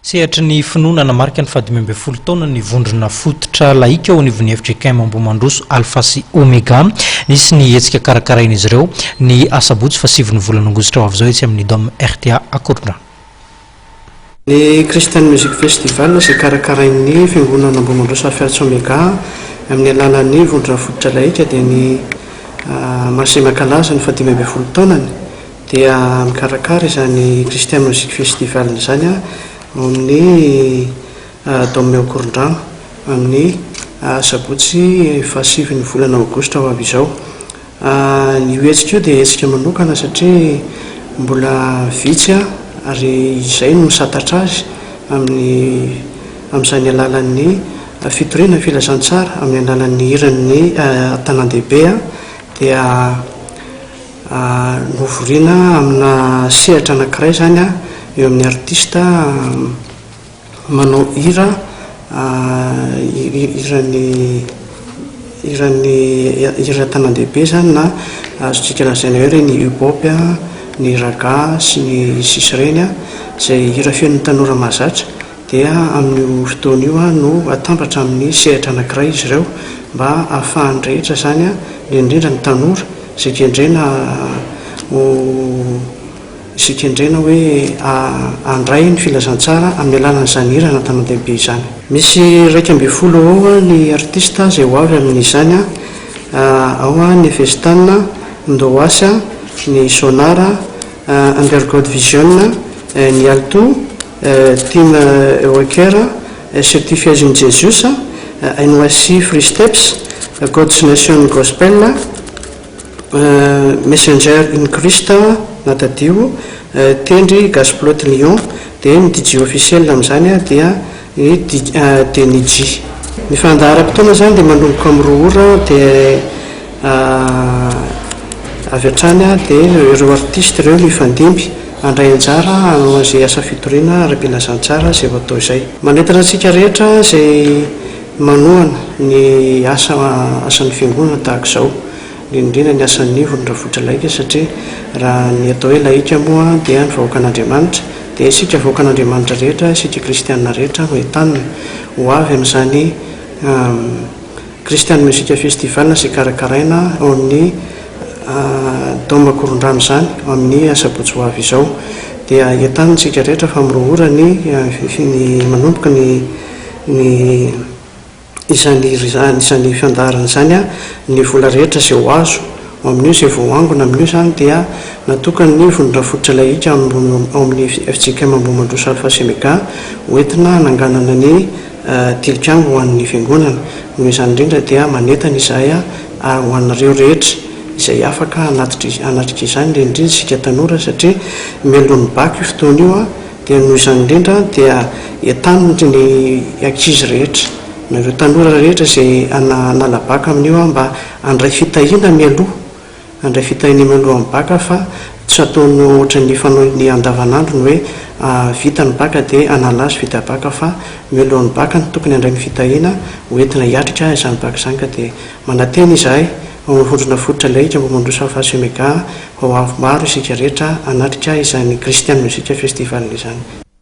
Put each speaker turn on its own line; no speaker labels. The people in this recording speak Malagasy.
Sehatry ny finoana hanamarika ny fahadimy ambin'ny folo taona ny vondrona fototra lahika ao anivon'ny fjkm Ambohimandroso Alpha sy Omega. Nisy ny hetsika karakarain'izy ireo, ny asabotsy fahasivon'ny volana aogositra ho avy izao etsy amin'ny Dome rta Ankorondrano.
Ny Christian Music Festival izay karakarain'ny fiangonana Ambohimandroso Alpha sy Omega amin'ny alalan'ny vondrona fototra lahika dia ny maha-semia kalaza ny fahadimy ambin'ny folo taonany. dia mikarakara izany Christian Music Festival izany aho ao amin'ny Dome ao Korondrano amin'ny Sabotsy fahasivy ny volana Aogositra ho avy izao. Io hetsika io dia hetsika manokana satria mbola vitsy aho ary izay no misantatra azy amin'ny amin'izany alalan'ny fitoriana ny filazantsara amin'ny alalan'ny hiran'ny tanàndehibe dia Novoriana amina sehatra anankiray izany an, eo amin'ny artista manao hira hiran'ny hiran'ny hira an-tanandehibe izany na azontsika lazaina hoe ireny hip-hop, ny ragga sy ny sisa ireny an, izay hira fenon'ny tanora mahazatra. dia amin'io fotoana io no atambatra amin'ny sehatra anankiray izy ireo mba ahafahan'ny rehetra izany, indrindra ny tanora izay kendrena ho izay kendrena hoe handray ny filazantsara amin'ny alalan'izany hira an'Antanandehibe izany. Misy iraika ambin'ny folo eo ho eo ny artista izay ho avy amin'izany, ao ny Festan, Ndoas, ny Sonar, Undergod Vision, ny Alto, Tim Walker, Certifies in Jesus, NYC Free Steps, God's Nation Gospel, Messenger in Christ, na Tadidio, Tendry, Gasplot Lyon, dia ny DJ officiel amin'izany dia Denny G. Ny fandaharam-potoana izany dia manomboka amin'ny roa ora dia avy hatrany dia ireo artista ireo mifandimby. Handray anjara hanao an'izay asa fitoriana ara-pilazantsara izay ho atao izay. Manentana antsika rehetra izay manohana ny asa asan'ny Fiangonana tahaka izao, indrindra indrindra ny asan'ny ivon'ny rafitra laika satria raha ny atao hoe laika moa dia ny vahoakan'Andriamanitra dia isika vahoakan'Andriamanitra rehetra, isika kristiana rehetra no entanina ho avy amin'izany Christian Music Festival izay karakaraina ao amin'ny Dôma Korondrano izany amin'ny asabotsy ho avy izao dia entanintsika rehetra fa miroa ora ny ny manomboka ny ny izany izany izany fandaharana izany ny vola rehetra izay ho azo ao amin'io izay voaangona amin'io izany dia natokan'ny vondron-drafototra ilay hika ao amin'ny FJKM Ambohimandroso Alpha Semega ho entina hananganana ny Tilikambo ho an'ny Fiangonana. Noho izany indrindra dia manentana izahay ary ho anareo rehetra izay afaka hanatrika izany indrindra indrindra isika tanora satria mialohan'ny bac io fotoana io dia noho izany indrindra dia entanin'ny ny ankizy rehetra nareo tanora rehetra izay hanala bac amin'io mba handray fitahiana mialoha Handray fitahian'iny aloha ny bac aho fa tsy ataony ohatry ny fanaony andavanandro ny hoe vita ny bac dia hanala azy vita bac fa mialohan'ny bac no tokony handray ny fitahiana ho entina hiatrika izany bac izany ka dia manantena izahay ho mirondrona fototra lehika mba mandroso hafa sy mega ho avy maro isika rehetra hanatrika izany Christian Music Festival izany.